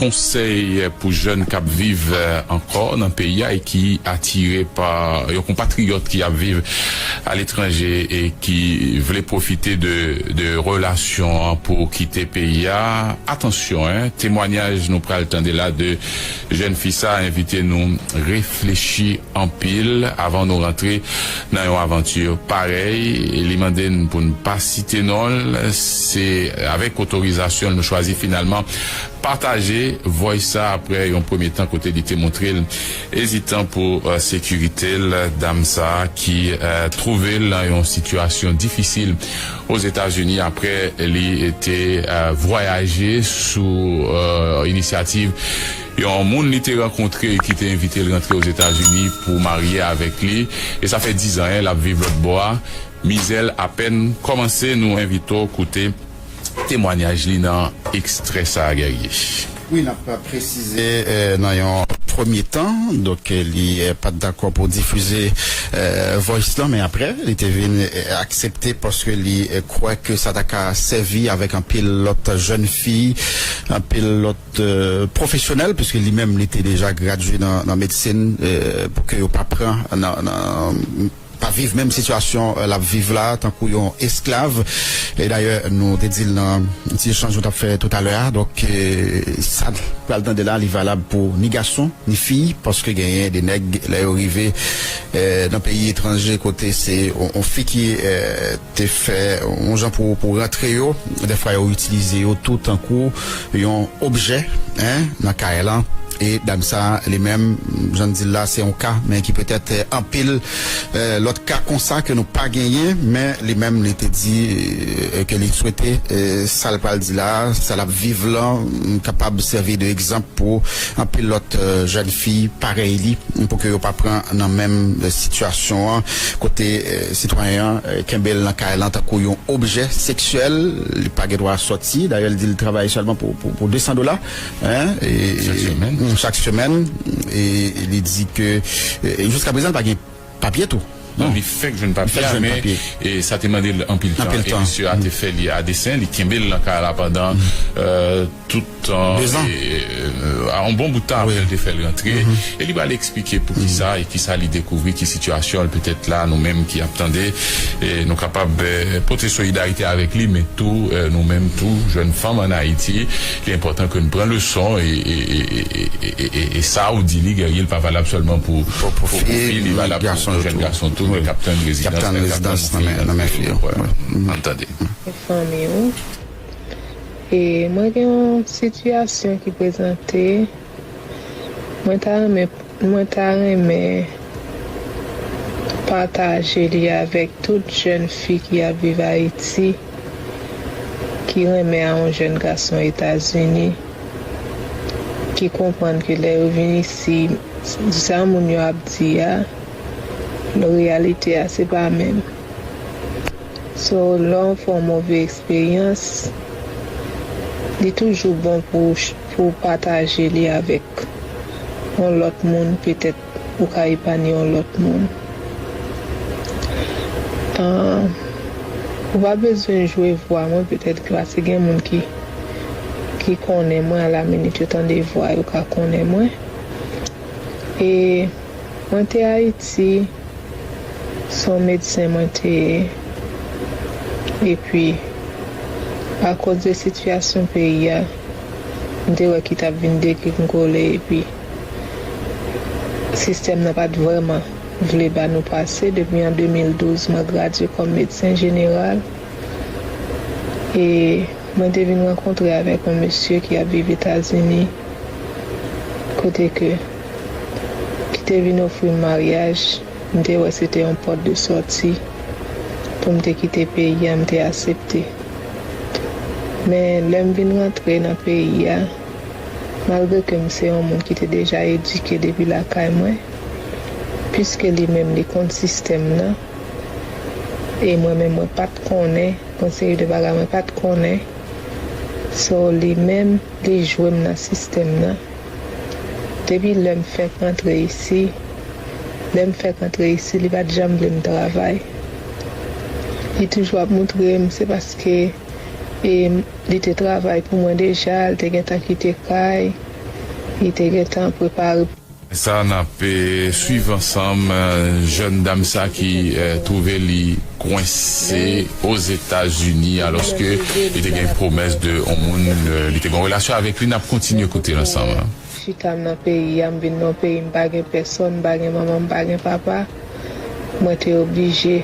Konsèy pou jèn k ap viv ankò nan peyi a e ki atire pa yon konpatriyòt ki ap viv aletranje e ki vle pwofite de relasyon an pou kite peyi a. Atansyon 1 temwanyaj nou pral tande la de jèn fi sa a envite nou reflechi anpil avan nou rantre nan yon avanti parèy. Li mande n pou n pa site non l. Se avèk otorizasyon l nou chwazi finalman Pataje voice sa aprè yon premye tan kote li te moutrel ezitan pou sekiritel. Dam sa ki twouvel nan yon sitiyasyon difisil Ozetazini aprè li te vwayaje sou inisyativ yon moun li te rankontre ki te envitel rantre Ozetazini pou marye avèk li e sa fè 10 an lap viv lòtbò a. Mizèl apèn kòmanse nou envite w koute. temwanyaj li nan ekstrè sa a Guerrier. Wi, n ap presize nan yon premye tan donk li pa t dakò pou difize voice lan men aprè li te vin aksepte paske li kwè ke sa ta ka sèvi avèk anpil lòt jèn fi, anpil lòt pwofesyonèl puiske li menm li te deja gradye nan medsin pou ke yo pa pran nan. pa viv menm sitiyasyon lap viv la tankou yon esklav e dayè nou te dil nan ti echanj nou tap fè toutalè a donk sa nou pral tande la li valab pou ni gason ni fi paske genyen de nèg lè yo rive nan peyi etranje kote se yon fi ki te fè yon jan pou pou rantre yo dèfwa yo itilize yo tou tankou yon objè hein nan kay lan e dam sa li menm jan n di l la se yon ka men ki petèt anpil lòt ka konsa ke nou pa genyen men li menm li te di ke li swete sa l pral di la sa l ap viv lan kapab sèvi de egzanp pou anpil lòt jèn fi parèy li pou ke yo pa pran nan menm sitiyasyon an kote Sitwayen an kenbe l nan kay lan tankou yon objè seksyèl, li pa gen dwa sòti. Dayè li di li travay sèlman pou 200 dola chak semèn e li di ke jiska prezan li pa gen papye tou. Non, li fèk jwenn papye a men sa te mande l anpil tan e misye a te fè li a desen, li kenbe l nan kay la pandan tout. yon bon bout tan apre l te fè l rantre e li pral eksplike poukisa e kisa li dekouvri ki sitiyasyon l petèt la nou menm ki ap tande nou kapab pote solidarite avèk li men tou nou menm tou jèn fanm an Ayiti li enpòtan ke nou pran leson e sa ou di li Guerrier li pa valab sèlman pou fi li valab pou jèn gason tou ki ap tann rezidans nan men fi yo an n tande. E mwen gen yon sitiyasyon ki prezante mwen ta renmen mwen ta renmen pataje li avèk tout jèn fi ki ap viv Ayiti ki renmen a yon jèn gason Etazini ki konprann ke lè yo vin isi sa moun yo ap di a reyalite a se pa menm. So lè w fè yon move eksperyans, li toujou bon pou pou w pataje li avèk yon lòt moun petèt ou ka epanye yon lòt moun. Ou pa bezwen jwe vwa mwen petèt klase gen moun ki ki konnen mwen alaminit yo tande vwa yo ka konnen mwen e. Mwen te ayiti son medsen mwen te ye epi akoz de sitiyasyon peyi a m te wè ki tap vin dekli'm kole epi sistèm nan pat vrèman vle ba nou pase depi an 2012 mwen gradye kòm medsen jeneral e mwen te vin rankontre avèk yon mesye ki ap viv etazini kote ke ki te vin ofri m maryaj, m te wè se te yon pòt de sòti pou m te kite peyi a, m te asepte. Men, lè m vin rantre nan peyi a, malgre ke m se yon moun ki te deja edike depi lakay mwen, piske li menm li konn sistèm nan, e mwen menm mwen pa t konnen, yon seri de bagay mwen pa t konnen, so li menm li jwe m nan sistèm nan. Depi lè m fèk antre isi, lè m fèk antre isi li pat janm vle m travay. Li toujou ap moutre m se paske e li te travay pou mwen deja, li te gentan kite kay, li te gentan prepare. Sa nap swiv ansanm jèn dam sa ki twouve li. kwense Ozetazini aloske li te gen pwomès de yon moun li te gen yon relasyon avèk li nap kontinye koute l ansanm. Chita m nan peyi a m vin nan yon peyi m pa gen pèsòn m pa gen manman m pa gen papa mwen te oblije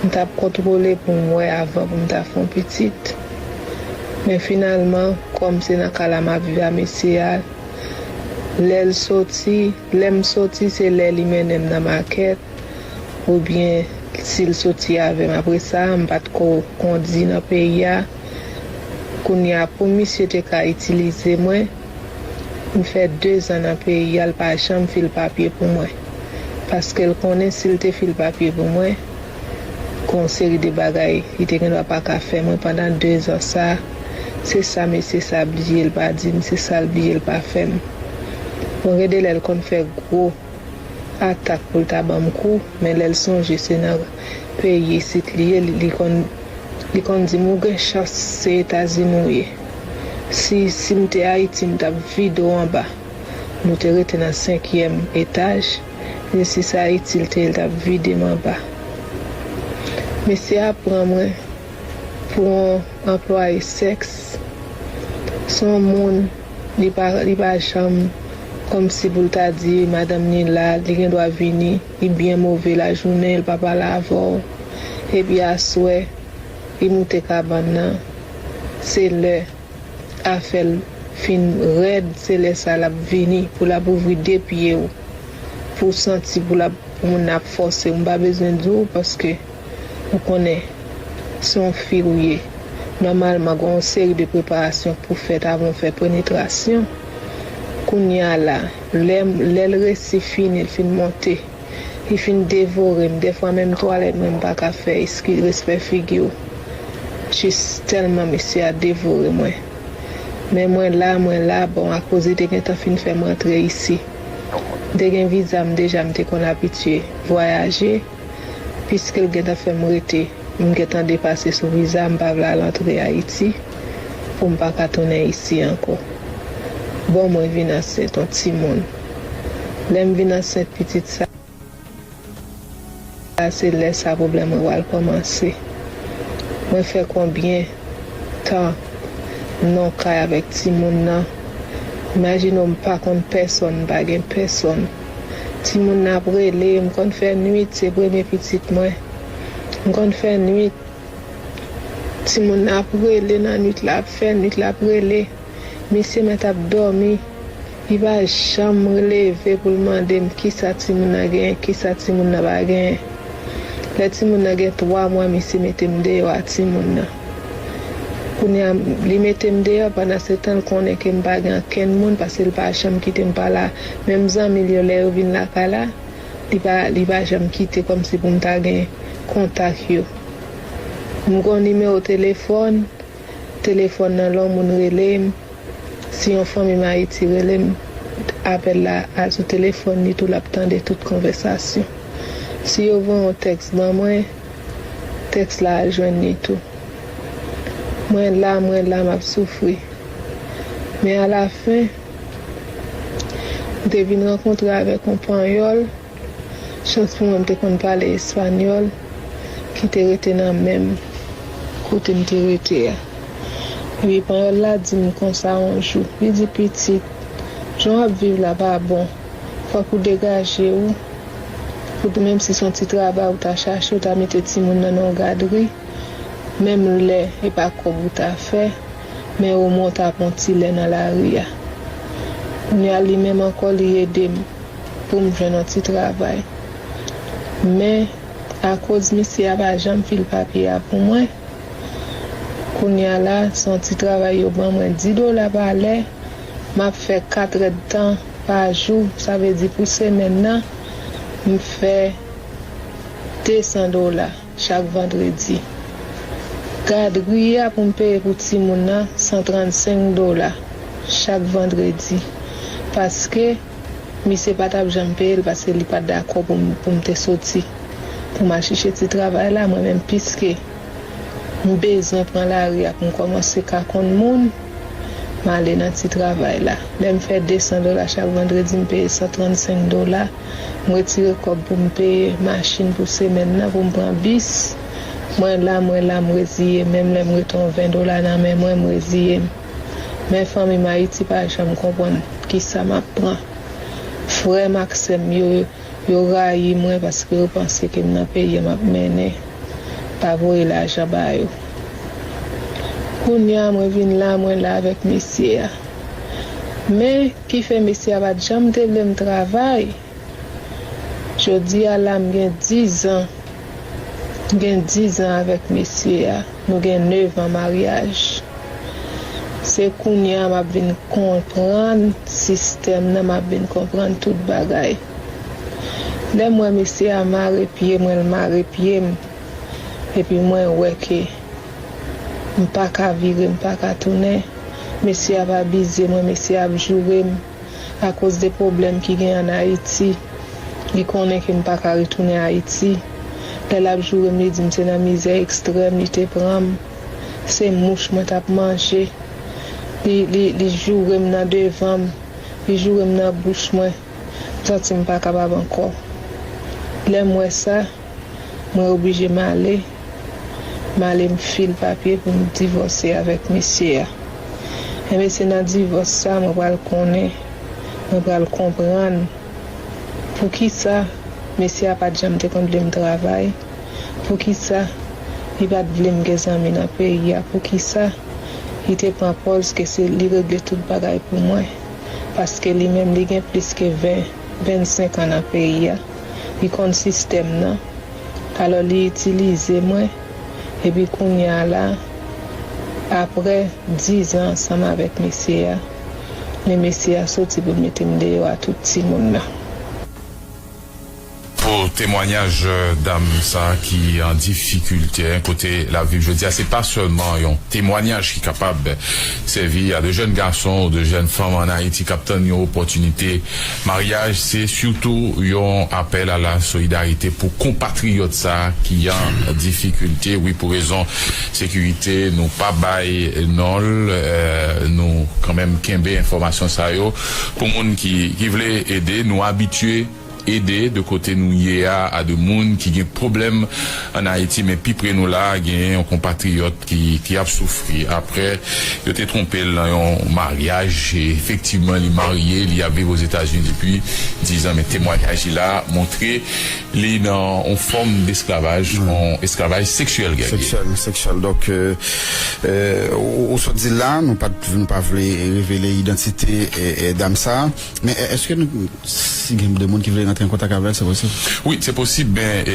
m tap kontwole pou m wè avan pou m ta fè yon pitit men finalman kòm se nan ka la map viv a mesye a lè l soti lè m soti se lè li mennen m nan makèt oubyen si l soti avè m apre sa, m pa t ko kondi nan peyi a, kounye a pou misye te ka itilize mwen, m fè dezan nan peyi a l pa janm fil papye pou mwen, paske l konnen si l te fil papye pou mwen, gen yon seri de bagay li te gendwa pa ka fè mwen pandan dezan sa, se sa mesye sa bliye l pa di m, se sa l bliye l pa fè m. Bon gen de lè l konn fè gwo. atak pou l ta ban m kou, men lè l sonje se nan peyi isit li ye li konn li konn di m ou gen chans se Etazini w ye. Si si m te Ayiti m t ap vide w anba. Nou te rete nan senkyèm etaj, ni si sa Ayiti l te ye l t ap vide m anba. Mesye a pran mwen pou on anplwaye sèks, s on moun. Li pa li pa janm kòmsi pou l ta di madanm ni la li gen dwa vini li byen move lajounen li pa pale avè w epi aswè li moute kabann nan se lè afè l fin rèd se lè sa l ap vini pou l ap ouvri de pye w pou w santi pou l ap pou moun nan ap fòse w m pa bezwen di w paske Ou konnen, se yon fi ou ye, nòmalman gen yon seri de preparasyon pou fèt avan ou fè penetrasyon. Kounye a la, lè, lè l resi fini, l fin monte, li fin devore m, dèfwa menm twalèt mwen m pa ka fè, eskiz, respè figi w, jis tèlman mesye a devore mwen. Men mwen la, mwen la, bon, akoz li te gentan fin fè m rantre isi. M te gen viza m deja, m te konn abitye vwayaje. Piske l gentan fè m rete, m gentan depase sou viza, m pa vle al antre Ayiti pou m pa ka tounen isi ankò. Bon mwen vin ansent on timoun. Lè m vin ansent pitit sa a se lè sa pwoblèm mwen pral kòmanse. Mwen fè konbyen tan non kay avèk timoun nan. Imajine w m pa konn pèsonn, m pa gen pèsonn. Timoun nan ap rele, m konn fè nwit, se premye pitit mwen. M konn fè nwit. Timoun nan ap rele nan nwit la, ap fè nwit, l ap rele. Mesye mwen t ap dòmi. Li pa janm leve pou l mande m kisa timoun nan genyen, kisa timoun nan pa genyen. Lè timoun nan gen twa mwa mesye mete m deyò a timoun nan. Kounye a, li mete m deyò, pandansetan l konnen ke m pa gen ankenn moun paske l pa janm kite m pa la. Menm zanmi l yo, lè yo vin lakay la, li pa li pa janm kite kòmsi pou m ta gen kontak yo. M gon nimewo telefòn, telefòn nan lon moun rele m, si yon fanmi m Ayiti rele m, apèl la al sou telefòn li tou l ap tande tout konvèsasyon. Si yo voye yon tèks ban mwen, Tèks la al jwenn li tou. Mwen la, mwen la m ap soufri. Men alafen, m te vin rankontre avèk yon Panyòl, chans pou mwen m te konn pale Espanyòl, ki te rete nan menm kote m te rete a. Epi Panyòl la di m konsa yon jou, li di, Pitit, jan w ap viv la pa bon. Fòk ou degaje ou, pou menm si son ti travay ou ta chache ou ta mete timoun nan nan yon gadri, menm lè e pa kòb ou ta fè, men o mwen ou ta pran yon ti lè nan lari a. Kounya li menm ankò li ede m poum jwenn yon ti travay. Men akoz misye a pa janm fil papye a pou mwen, Kounya la se yon ti travay yo ban mwen 10 dola pa lè, m ap fè 4 èdtan pa jou, sa vle di pou semèn nan m fè 200 dola chak vandredi. Gadri a pou m peye pou timoun nan 135 dola chak vandredi paske. Misye pa tap janm peye l paske li pat dakò pou m pou m te soti pou m al chèche ti travay la mwen menm piske m bezwen pran lari a pou m kòmanse ka konn moun m ale nan ti travay la lè m fè 200 dola chak vandredi m peye 135 dola m retire kòb pou m peye machin pou semèn nan pou m pran bis mwen la mwen la m reziye menm lè m rete yon 20 dola nan men mwen m reziye m. Men fanmim ayiti pa janm konprann kisa map pran frèm ak sèm yo yo rayi mwen paske yo panse kem nan peyi an map mennen pa voye lajan ba yo kounya mwen vin la mwen la avèk mesye a men kifè mesye a pat janm te vlem travay. Jodi a la m gen dizan. M gen dizan avèk mesye a, nou gen nevan maryaj. Se kounye a m ap vin konprann sistèm nan, m ap vin konprann tout bagay. Lè m wè mesye a mare pye mwen, l mare pye m, epi mwen wè ke m pa ka vire, m pa ka tounen, mesye a va bize mwen, mesye a ap joure m, akoz de pwoblèm ki gen an Ayiti. Li konnen ke m pa ka retounen Ayiti. Lè l ap joure m li di m se nan mizè ekstrèm li te pran m. Se mouch mwen t ap manje. Li, li, li joure m nan devan m. Li joure m nan bouch mwen. M santi m pa kapab ankò. Lè m wè sa. mwen oblije male male m fil papye pou m divòse avèk mesye a enben se nan divòs sa mwen pral konnen mwen pral konprann poukisa mesye a pat janm te konn vle m travay poukisa li pat vle m gen zanmi nan peyi a poukisa li te pran pòz ke se li regle tout bagay pou mwen paske li menm li gen plis ke 20 25 an nan peyi a. li konn sistèm nan alò li itilize mwen epi kounya la aprè 10 ans ansanm avèk mesye a men mesye a soti poul metem deyò a tout timoun nan. Pou temwanyaj dam sa ki an difikilte an kote lap viv jodi a se pa sèlman yon temwanyaj ki kapab sèvi a de jèn gason ou de jèn fanm an Ayiti kap tann yon opòtinite Maryaj se sitou yon apèl a la solidarite pou konpatriyòt sa ki an difikilte wi pou rezon sekirite nou pa bay nonl nou kanmenm kenbe enfòmasyon sa yo pou moun ki ki vle ede nou abitye ede de kote nou ye a de moun ki gen pwoblèm Ann Ayiti, men pi pre nou la a, genyen yon konpatriyòt ki ap soufri apre yo te twonpe l nan yon maryaj. Efektivman, li marye, li ap viv Ozetazini depi dizan, men temwanyaj li la a montre li nan yon fòm desklavaj, yon esklavaj seksyèl, Guerrier. Seksyèl, sexual. Donk, ou sot di l la a, nou pa vle revele idantite dam sa a, men èske nou. Si gen de moun ki vle rantre an kontak avèl se posib? Wi se posib men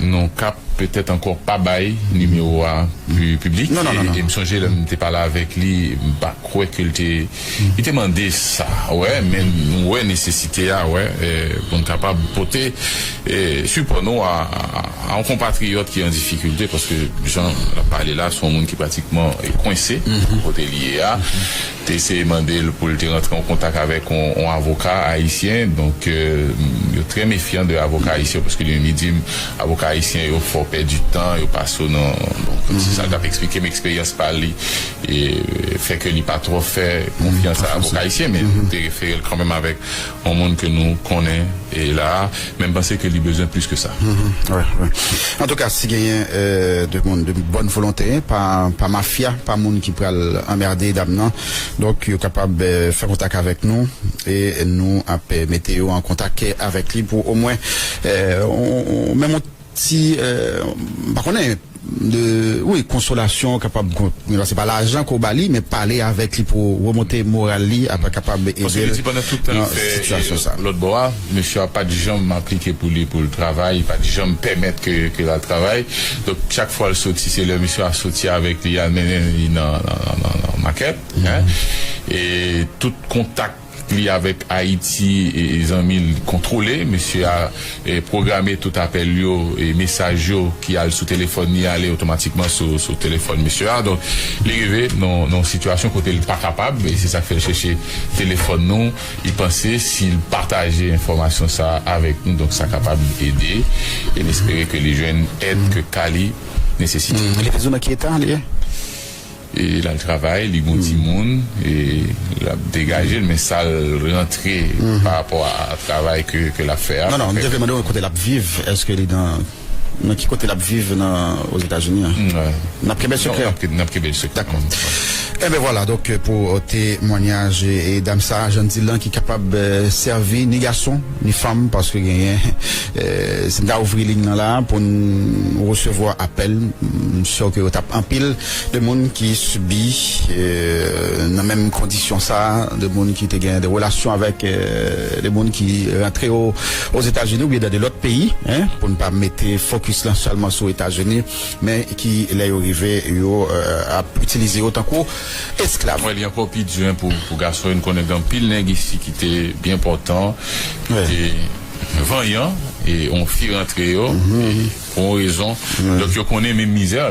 nou ka petèt ankò pa bay nimewo a pu piblik e m sonje lè m te pale avèk li m pa kwè ke l te li te mande sa wè men nou wè nesesite a wè pou n kapab pote sipò nou a yon konpatriyòt ki an difikilte paske jan l ap pale la se yon moun ki pratikman kwense kote li ye a. Te eseye mande l pou l te rantre an kontak avèk yon avoka ayisyen, donk yo trè mefyan de avoka ayisyen yo paske li menm li di m avoka ayisyen yo fè w pèdi tan, yo pase w nan, donk se sa l t ap eksplike m eksperyans pa li fè ke li pa twò fè konfyans a avoka ayisyen men m te refere l kanmenm avèk On moun ke nou konnen la a, men m panse ke li bezwen plis ke sa. Antouka, si genyen 2 moun de bòn volonte, pa mafya, pa moun ki pral anmerde dam nan, donk yo kapab fè kontak avèk nou e nou ap mete yo an kontak avèk li pou omwen menm on Si m pa konnen de wi konsolasyon kapab konn se pa lajan ke w ba li men pale avèk li pou remonte moral li ap kapab ede l nan sitiyasyon sa. Paske li di pandan tout tan l fè lòt bò a mesye a pat janm aplike pou li pou l travay li pat janm pèmèt ke l al travay donk chak fwa l soti se lè mesye a soti avèk li al mennen li nan makèt e tout kontak Li avèk Ayiti zanmi l kontwole. Mesye a pwograme tout apèl yo e mesaj yo ki al sou telefòn li ale otomatikman sou telefòn mesye a. Donk, li rive nan yon sitiyasyon kote l pa kapab e se sa k fè l chèche telefòn nou. Li panse si l pataje enfòmasyon sa a avèk nou, donk sa kapab ede e l espere ke li jwenn èd ke ka li nesesite. Li toujou nan ki eta li ye? E lal travay li gon timoun e lap degajel men sal rantre pa rapò a travay ke lap fè a. Non non m te vle mandew kote lap viv eske li nan nan ki kote lap viv nan ozetazini an nap kenbel sekrè non nap kenbel sekrè dakò enben vwala donk pou temwanyaj dam sa jan dil lan ki kapab sèvi ni gason. Ni fanm paske genyen si m ta ouvri ligne nan la pou n resevwa apèl m sure ke yo tap anpil de moun ki sibi nan menm kondisyon sa de moun ki te gen de relasyon avèk de moun ki rantre ozetazini oubyen dan de lòt peyi pou n pa mete fokis lan sèlman sou etazini men ki lè yo rive yo ap itilize yo tankou esklav. Mwen li ankò pi di an pou pou gason yo, nou konnen gen anpil nèg isi ki te byen pòtan, ki te vanyan e on fi rantre yo e pou on rezon donk yo konnen menm mizè la.